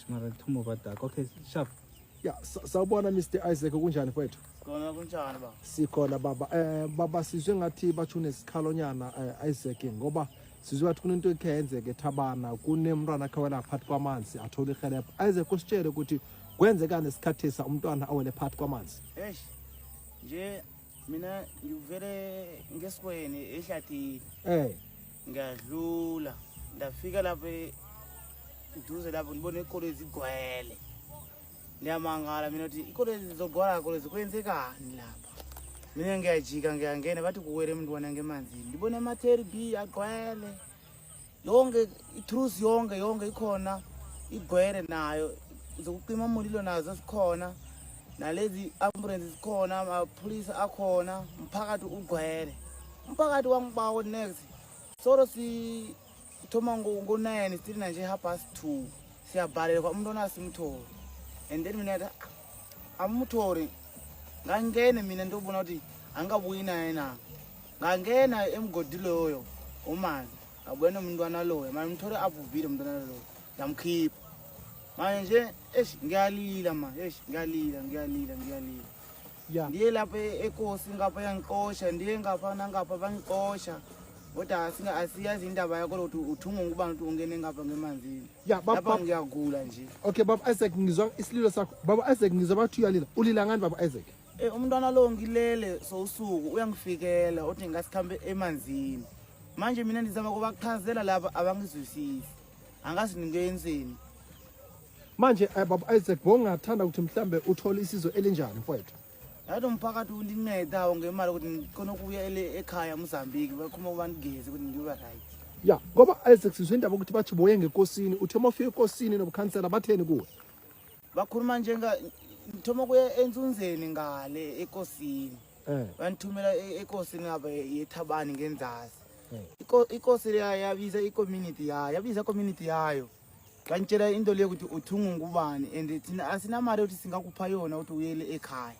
Mara ngithuma ubadaka. Okay, sharp. Ya, sa- sawubona Mr Isaac kunjani mfowethu? Kona kunjani ba? Sikhona baba. Eh baba sizwe ngathi bathu nesikhalonyana eh, Isaac ngoba sizwe ngathi kunento ekhe yenzeka ethabana kunemntwana akhe wela phakathi kwamanzi athola ihelebho. Isaac usitshele ukuthi kwenzekani esikhathisa umntwana awele phakathi kwamanzi. Eish. Nje mina ngivele ngesikweni ehlathini um ngiyadlula ndafika lapho e- duze lapho ndibona ikoloi zigcwele ndiyamangala mina kuti ikoloi zizogcwala koloi zikwenzekani lapha mina ngiyajika ngiyangena bathi kuwele mntwana ngemanzini ndibona ama-terb agcwele yonke itruth yonke yonke ikhona igwere nayo zokucima umulilo nazo zikhona nalezi ambulance zikhona amapholisa akhona umphakathi ugwele umphakathi wangibawo next solo sithoma ngo-nine still nanje half past two siyabhalelwa umuntu onasimtholi and then mina ta amumtholi ngangene mina ndobona ukuthi angabuyi naye na ngangena emgodi loyo umazi ngabona umntwana loyo manje umthole abhubhile umntwana loyo yamkhipha manje nje eish ngiyalila manje eish ngiyalila ngiyalila ngiyalila ya ndiye lapha e- ekosi ngapha yangixosha ndiye ngapha nangapha bangixosha kodwa asinga- asiyazi indaba yakho lokuthi uthungwa ukuba ngithi ungene ngapha ngemanzini ya baba lapha baba- ngiyagula nje okay baba isaac ngizwa isililo sakho baba isaac ngizwa bathi uyalila ulila ngani baba isaac Eh umntwana lo ngilele sosuku uyangifikela uthi ngasikhambe emanzini. Manje mina ndizama kubachazela laba abangizwisisi. Angazi ngenzeni. Manje eh, baba Isaac bongathanda ukuthi mhlambe uthole isizo elinjani mfowethu? Yathi umphakathi undinceda ngemali ukuthi ngikhona ukuya ele- ekhaya eMozambique bakhuma ubangigeze ukuthi ngibe right. Ya, ngoba Isaac sizwe indaba ukuthi bathi boye ngekosini, uthe uma ufika ekosini nobukhansela batheni kuwe? bakhuluma njenga ngithoma kuya enzunzeni ngale ekosini eh. bangithumela e-, ekosini ngaba yethabani ngenzasi eh. ikosi leya yabiza icommunity yayo yabiza community yayo ngangitshela into leyo ukuthi uthungu ngubani and thina asinamali ukuthi singakupha yona ukuthi uyele ekhaya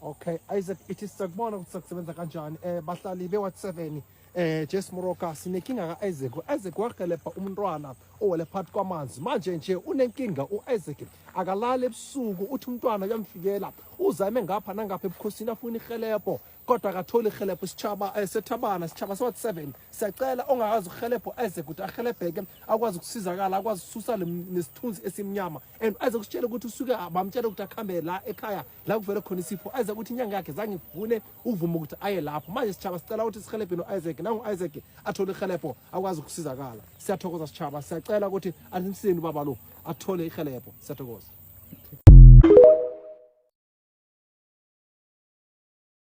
Okay, Isaac ithi sakubona ukuthi sakusebenza kanjani. Eh bahlali be Ward 7 eh Jess Moroka sinenkinga ka Isaac. Isaac wagelepha umntwana owele phakathi kwamanzi. Manje nje unenkinga uIsaac. Akalali ebusuku uthi umntwana uyamfikela. Uzame ngapha nangapha ebukhosini afuna ihelebho kodwa akatholi ihelebho isitshaba eh, sethabana isitshaba se Ward 7. Siyacela ongakazi uhelebho Isaac ukuthi ahelebheke akwazi ukusizakala akwazi ukususa nesithunzi esimnyama and aze kusitshela ukuthi usuke bamtshela ukuthi akhambe la ekhaya la kuvele khona isipho Isaac ukuthi inyanga yakhe zange ivune uvuma ukuthi aye lapho manje sitshaba sicela ukuthi sihelebhe no-isaac nangu-isaac athole ihelebho akwazi ukusizakala siyathokoza sitshaba siyacela ukuthi anisini ubaba lo athole ihelebho siyathokoza